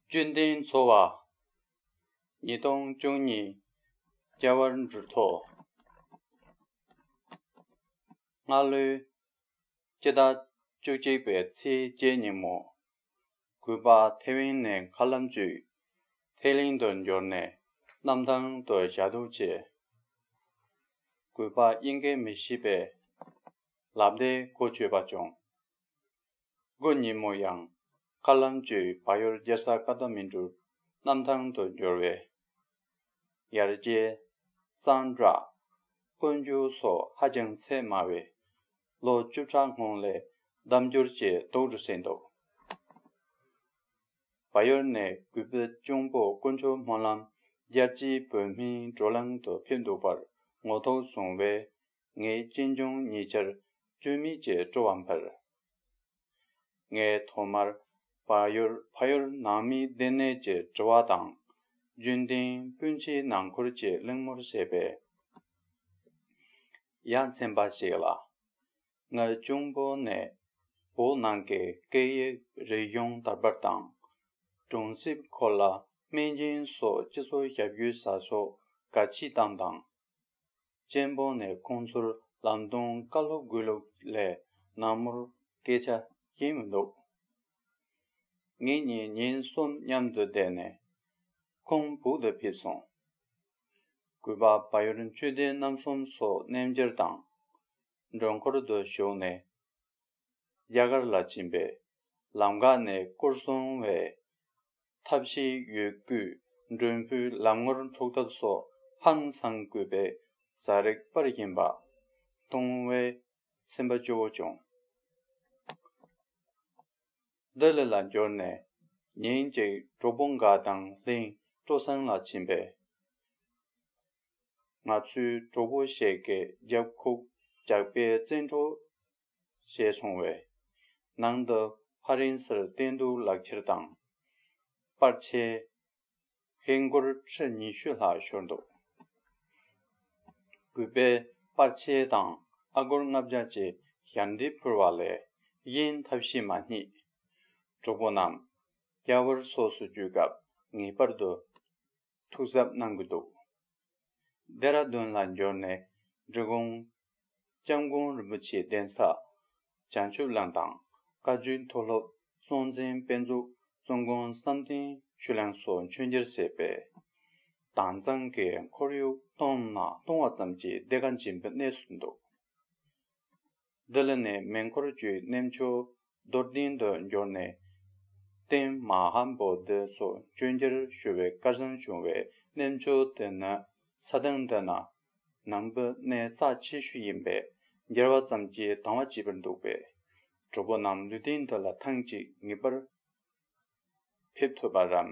བཅོན་ལྡན་འཚོ་བ། ཉིས་སྟོང་བཅུ་གཉིས་སྐྱ་བར་འབྲུ་ཐོག་སྔར་ལོའི་སྤྱི་ཟླ་བཅུ་གཅིག་པའི་ཚེས་བརྒྱད་ཉིན་མོ་གུས་པ་ཐེ་ཝན་ནས་མཁའ་ལམ་བཅུས་ཐེ་གླིང་དུ་འབྱོར་ནས་གནམ་ཐང་དུ་བཞག་འདུག་ཅེས། གུས་པ་དབྱིན་སྐད་མི་ཤེས་པས་ལབ་བརྡའི་གོ་ཆོད་པ་བྱུང། དགུན་ཉིན་མོ་ཡང་མཁའ་ལམ་བཅུས་བག་ཡོར་རྒྱལ་ས་ཀ་ཐ་མིན་ཏུར་གནམ་ཐང་དུ་འབྱོར་བས། ཡར་རྒྱས། གཙང་སྦྲ། དཀོན་རྒྱུ་སོགས་ཧ་ཅང་ཚད་དམའ་བའི་ལོ་བཅུ་གྲངས་སྔོན་ལས་བདམས་འགྱུར་བཅས་གཏོང་རུ་ཟིན་འདུག་བ་ཡོར་ནས་གུས་པའི་གཅུང་པོ་དཀོན་མཆོག་སྨོན་ལམ་རྒྱལ་སྤྱིའི་བོད་མིའི་བགྲོ་གླང་དུ་ཕེབས་འདུག་པར་ངོ་ཐོག་བཟུང་བས། ངའི་གཅེན་གཅུང་ཉེ་ཆར་གཅོད་མི་བཅས་སྤྲོ་བ་འཕར། ངས་ཐོག་མར་བ་ཡོར་ཕ་ཡོར་ནང་མི་བདེ་གནས་ཀྱི་དྲི་བ་དང། རྒྱུན་ལྡན་སྤུན་མཆེད་ནང་འཁུར་གྱི་གླེང་མོར་བཤད་པས་ཡ་མཚན་པ་ཞིག་ལ། ང་གཅུང་པོ་ནས་བོད་ནང་གི་སྐད་ཡིག་རིག་གཞུང་དར་འབབ་དང། གྲོང་གསེབ་གོ་ལ་སྨན་ཁྱིམ་སོགས་སྤྱི་ཚོགས་ཞབས་ཞུའི་བྱ་ཕྱོགས་ག་ཅི་བཏང་དང། ཅན་བོང་ནས་ཁོང་ཚུར་ལམ་སྟོང་བཀའ་སློབ་དགོས་ལུགས་ལས་ནངས་མོར་སྐད་ཆ་ཡིན་མི་འདུག། ངེད་གཉིས་ཉིན་གསུམ་མཉམ་དུ་བསྡད་ནས་ཁོང་སྦུག་ཏུ་ཕེབས་སོང། གུས་པ་བ་ཡོར་མཆོད་རྟེན་རྣམ་གསུམ་སོགས་གནས་འབྱར་དང། མགྲོན་འཁོར་དུ་ཞུགས་ནས་རྒྱ་གར་ལ་ཕྱིན་པས་ལམ་འགག་ནས་སྐུར་སོང་བས། མཐའ་བཞིའི་ཡོས་བརྒྱུད་མགྲོན་བུའི་ལམ་ངོར་འཁྲུག་ཐབས་སོགས་ཧང་སང་རྒུད་པའི་བཟའ་རེག་དཔར་བཞིན་པ། ལྟུང་བའི་སེམས་པ་སྐྱོ་བོ་བྱུང། ལྡི་ལི་ལ་འབྱོར་ནས་ཉིན་གཅིག་གྲོགས་པོ་འགའ་དང་ལྷིང་སྤྲོ་སྲང་ལ་ཕྱིན་པས། ང་ཚོའི་གྲོགས་པོ་ཞེ་དགེ་རྒྱབ་ཁུག་ཇག་པས་བཙན་འཕྲོག་ཞེས་གསུངས་བས། ནང་དུ་ཕ་རན་སིར་བསྟེན་གཏུགས་ལག་ཁྱེར་དང། པར་ཆས། ཧེ་མགུར་ཁྲི་ཉི་ཤུ་ལྷག་ཤོར་འདུག། གུས་པས་པར་ཆས་དང་ཨ་སྒོར་ལྔ་བརྒྱ་ཅེས་ཞབས་འདེགས་ཕུལ་བ་ལས་གཡེང་ཐབས་གཞི་མ་རྙེད། གྲོགས་པོ་རྣམས། རྒྱ་བོར་སོགས་སུ་བརྒྱུད་སྐབས་ངེས་པར་དུ། ཐུགས་གཟབ་གནང་གི་འདུག་རྡེ་ར་རྡུན་ལ་འབྱོར་ནས་འབྲི་གུང ྋསྐྱབས་མགོན་རིན་པོ་ཆེའི་གདན་ས་བྱང་ཆུབ་བླ་དང་བཀའ་བརྒྱུད་མཐོ་སློབ་སྲོང་བཙན་དཔལ་འཛུགས་གཙོ་མགོན་བསམ་གཏན་ཆོས་གླིང་སོགས་མཆོད་གྱེར་བྱས་པས་དྭངས་གཙང་གི་ཁོར་ཡུག་སྟོང་ན་སྟོང་བ་ཙམ་གྱིས་བདེ་དགའ་སྦྱིན་པའི་གནས་སུ་འདུག། བདེ་ལ་ནི་མེ་འཁོར་བཅུའི་རྣལ་འབྱོར་རྡོར་གདན་དུ་འབྱོར་ནས། རྟེན་མ་ཧ་བོ་ཏི་སོགས་མཆོད་མཇལ་ཞུ་བའི་བཀའ་གསང་བྱུང་བའི་རྣལ་འབྱོར་དེ་ནི་ས་དང་འདྲ་ན། ནང་པོ་གནས་རྩ་ཆེ་ཤོས་ཡིན་པས་འགྱེལ་བ་ཙམ་གྱིས་དང་བ་བྱེད་པར་འདུག་པས། གྲོགས་པོ་རྣམས་ལུས་རྟེན་འདི་ལ་ཐང་གཅིག་ངེས་པར་ཕེབས་ཐུབ་པར་རམ།